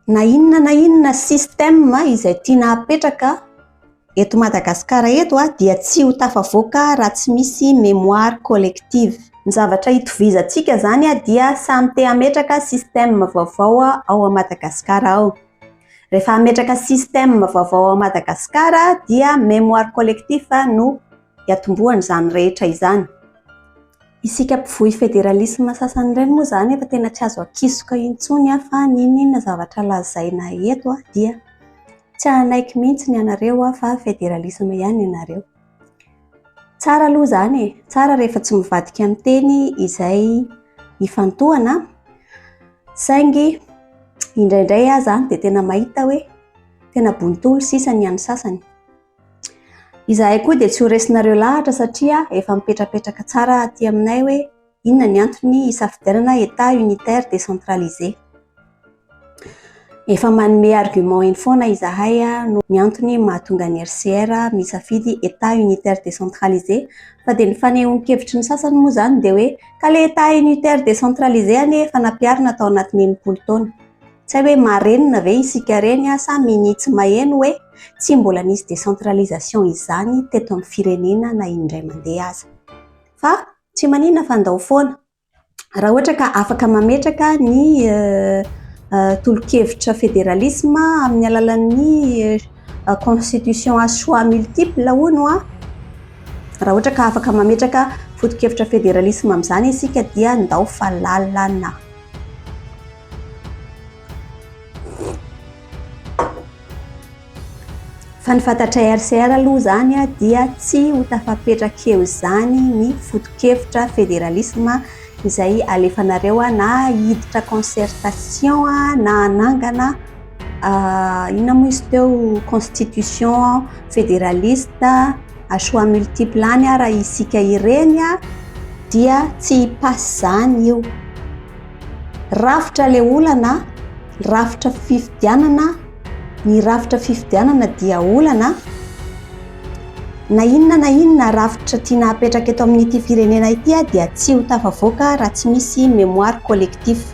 Na inona na inona système izay tiana hapetraka eto Madagasikara eto dia tsy ho tafavoaka raha tsy misy mémoire collective. Ny zavatra hitovizantsika izany dia samy te hametraka système vaovao ao Madagasikara ao. Rehefa hametraka système vaovao ao Madagasikara dia mémoire collectif no hiatombohan'izany rehetra izany. Isika mpivoy federalisma sasany ireny moa izany efa tena tsy azo akisoka intsony fa n'inon'inona zavatra lazaina eto dia tsy hanaiky mihitsy ny anareo fa federalisma ihany ny anareo. Tsara aloha izany e! Tsara rehefa tsy mivadika amin'ny teny izay ifantohana saingy indraindray aza dia tena mahita hoe tena bontolo sisa ny an'ny sasany. Izahay koa dia tsy ho resinareo lahatra satria efa mipetrapetraka tsara aty aminay hoe inona ny antony hisafidianana Etat unitaire décentralisé. Efa manome argument eny foana izahay noho ny antony mahatonga ny RCR misafidy Etat unitaire décentralisé fa dia ny fanehoan-kevitry ny sasany moa izany dia hoe ka ilay Etat unitaire décentralisé anie efa nampiharina tao anatin'ny enimpolo taona. Tsy hay hoe marenina ve isika reny sa minia tsy maheno hoe tsy mbola nisy décentralisation izany teto amin'ny firenena na indray mandeha aza. Fa tsy maninona fa ndao foana. Raha ohatra ka afaka mametraka ny tolokevitra fédéralisme amin'ny alalan'ny constitution à choix multiple hono an, raha ohatra ka afaka mametraka fotokevitra fédéralisme amin'izany isika dia ndao fa lalana. Fa ny fantatray RCR aloha izany dia tsy ho tafapetraka eo izany ny fotokevitra federalisma izay alefanareo na hiditra concertation na hanangana Ah, inona moa izy teo constitution fédéraliste à choix multiple any ah, raha isika ireny ah, dia tsy hipasse zany io. Rafitra le olana, rafitra fifidianana, ny rafitra fifidianana dia olana. Na inona na inona rafitra tiana hapetraka eto amin'ity firenena ity ah, dia tsy ho tafavoaka raha tsy misy mémoire collectif.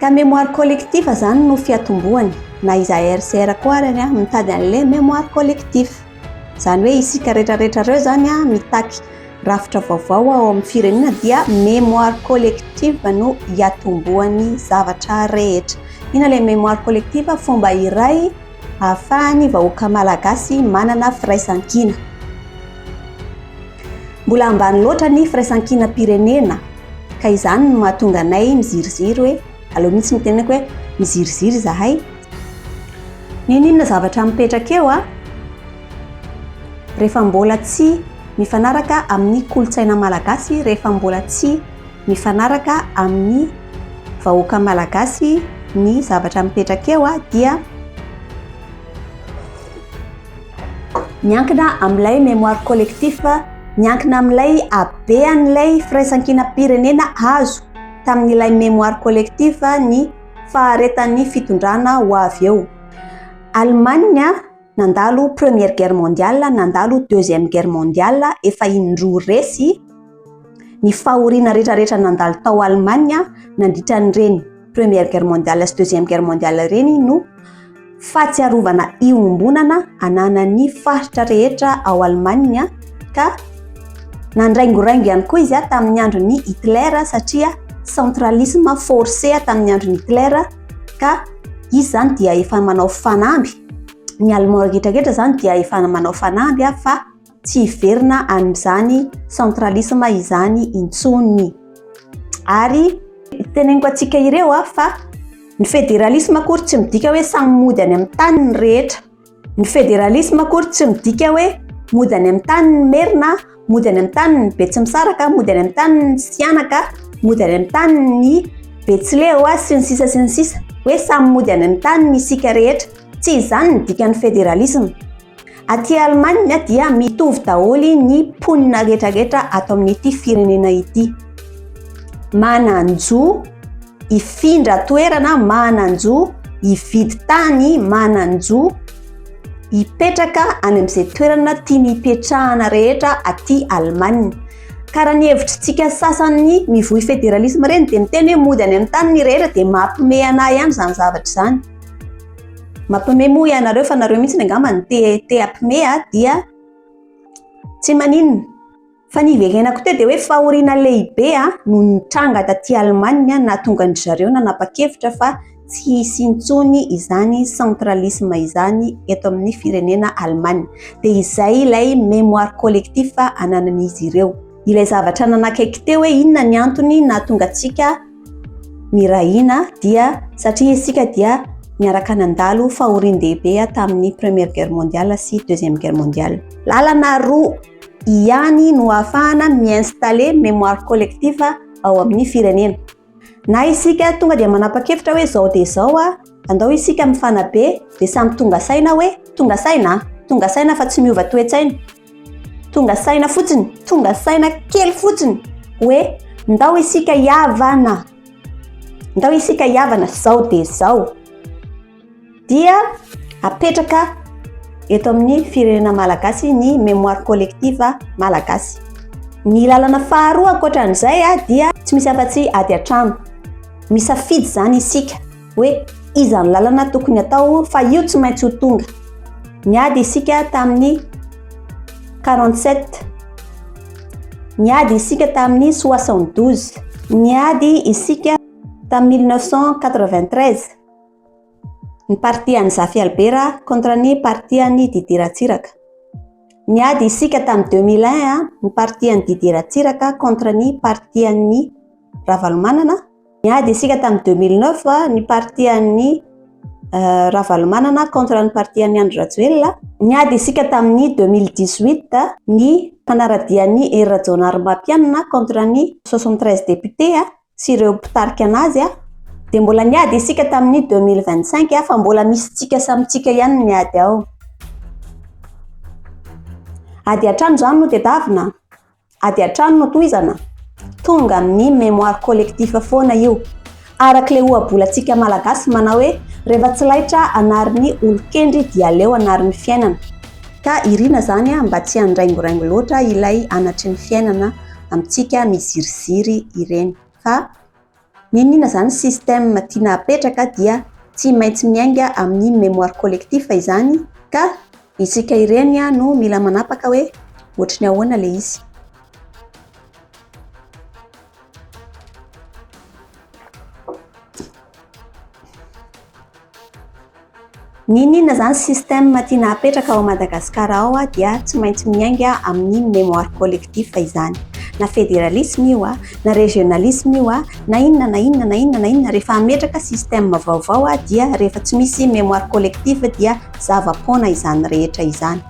Ka mémoire collectif zany no fiatombohany, na izahay RCR koa ary an, mitady an'le mémoire collectif. Zany hoe isika retraretra reo zany an mitaky rafitra vaovao ao amin'ny firenena dia mémoire collective no iatombohany zavatra rehetra. Ina le mémoire collective? Fomba iray ahafahany vahoaka malagasy manana firaisankina. Mbola ambany loatra ny firaisankinam-pirenena. Ka izany no mahatonga anay miziriziry hoe aleo mihitsy ny tenako hoe miziriziry izahay. N'inon'inona zavatra mipetraka eo an! Rehefa mbola tsy mifanaraka amin'ny kolontsaina malagasy, rehefa mbola tsy mifanaraka amin'ny vahoaka malagasy ny zavatra mipetraka eo dia. Miankina amin'ilay mémoire collectif, miankina amin'ilay habean'ilay firaisankinam-pirenena azo tamin'ilay mémoire collectif ny faharetan'ny fitondrana ho avy eo. Allemagne nandalo Première Guerre mondiale, nandalo Deuxième Guerre mondiale, efa indroa resy, Ny fahoriana rehetrarehetra nandalo tao Allemagne nandritra an'ireny Première Guerre mondiale sy Deuxième Guerre mondiale ireny no fahatsiarovana iombonana ananan'ny faritra rehetra ao Allemagne ka nandraingoraingo ihany koa izy tamin'ny andron'i Hitler satria centralisme forcé tamin'ny andron'i Hitler ka izy izany dia efa manao fanamby ny Allemand rehetrarehetra izany dia efa manao fanamby fa tsy hiverina amin'izany centralisme izany intsony. Ary teneniko antsika ireo fa ny federalisme akory tsy midika hoe samy mody any amin'ny tany ny rehetra. Ny federalisme akory tsy midika hoe mody any amin'ny tany ny merina, mody any amin'ny tany ny betsimisaraka, mody any amin'ny tany ny sianaka, mody any amin'ny tany ny betsileo sy ny sisa sy ny sisa. Hoe samy mody any amin'ny tany isika rehetra. Tsy izany ny dikan'ny federalisme. Aty Allemagne dia mitovy daholo ny mponina rehetra rehetra ato amin'ity firenena ity. Manan-jo hifindra toerana, manan-jo hividy tany, manan-jo hipetraka any amin'izay toerana tiany hipetrahana rehetra aty Allemagne. Ka raha ny hevitritsika sasany mivoy federalisme ireny dia miteny hoe mody any amin'ny taniny rehetra dia mampiomehy anah ihany izany zavatra izany. Mapme moa ianareo fa nareo mihitsy angamba no te te apme a dia tsy maninona. Fa ny iverenako teo dia hoe fahoriana lehibe a no nitranga taty Allemagne a nahatonga ndry zareo nanapa-kevitra fa tsy hisy intsony izany centralisme izany eto amin'ny firenena Allemagne. Dia izay ilay memoire collectif ananan'izy ireo. Ilay zavatra nanakaiky teo hoe inona ny antony nahatonga antsika Nirahina dia satria isika dia niaraka nandalo fahorian-dehibe tamin'ny Première Guerre mondiale sy Deuxième Guerre mondiale. Lalana roa ihany no ahafahana mi-installer mémoire collective ao amin'ny firenena. Na isika tonga dia manapa-kevitra hoe izao dia izao a, andao isika mifanabe dia samy tonga saina hoe tonga saina a, tonga saina fa tsy miova toe-tsaina. Tonga saina fotsiny, tonga saina kely fotsiny hoe ndao isika hiavana, ndao isika hiavana zao dia zao. Dia apetraka eto amin'ny firenena malagasy ny mémoire collective malagasy. Ny lalana faharoa ankoatra an'izay dia tsy misy afa-tsy ady an-trano. Misafidy izany isika. hoe iza ny lalana tokony atao fa io tsy maintsy ho tonga. Niady isika tamin'ny 47. Niady isika tamin'ny 72. Niady isika tamin'ny 1993. Ny parti an'i Zafy Albera contre ny parti an'i Didier Ratsiraka. Niady isika tamin'ny 2001 ny parti an'i Didier Ratsiraka contre ny parti an'i Ravalomanana. Niady isika tamin'ny 2009 ny parti an'ny euh, Ravalomanana contre ny parti an'ny Andry Rajoelina. Niady isika tamin'ny 2018 ny fanaradian'ny Hery Rajaonarimampianina contre ny 73 députés sy ireo mpitarika anazy dia mbola niady isika tamin'ny 2025 fa mbola misy tsika samintsika ihany ny ady ao. Ady hatrany izany no tedavina? Ady hatrany no tohizana? Tonga amin'ny mémoire collectif foana io. Arak'ilay ohabolantsika malagasy manao hoe rehefa tsy laitra anarin'ny olon-kendry dia aleo anarin'ny fiainana. Ka irina izany mba tsy handraingoraingo loatra ilay anatry ny fiainana amintsika miziriziry ireny fa. N'inona izany système tiana hapetraka dia tsy maintsy miainga amin'ny mémoire collectif izany ka. Isika ireny no mila manapaka hoe ohatry ny ahoana ilay izy. N'inon'inona izany système tiana hapetraka ao Madagasikara ao dia tsy maintsy miainga amin'iny mémoire collectif izany. Na fédéralisme io, na régionalisme io, na inona na inona na inona na inona, rehefa hametraka système vaovao dia rehefa tsy misy mémoire collectif dia zava-poana izany rehetra izany.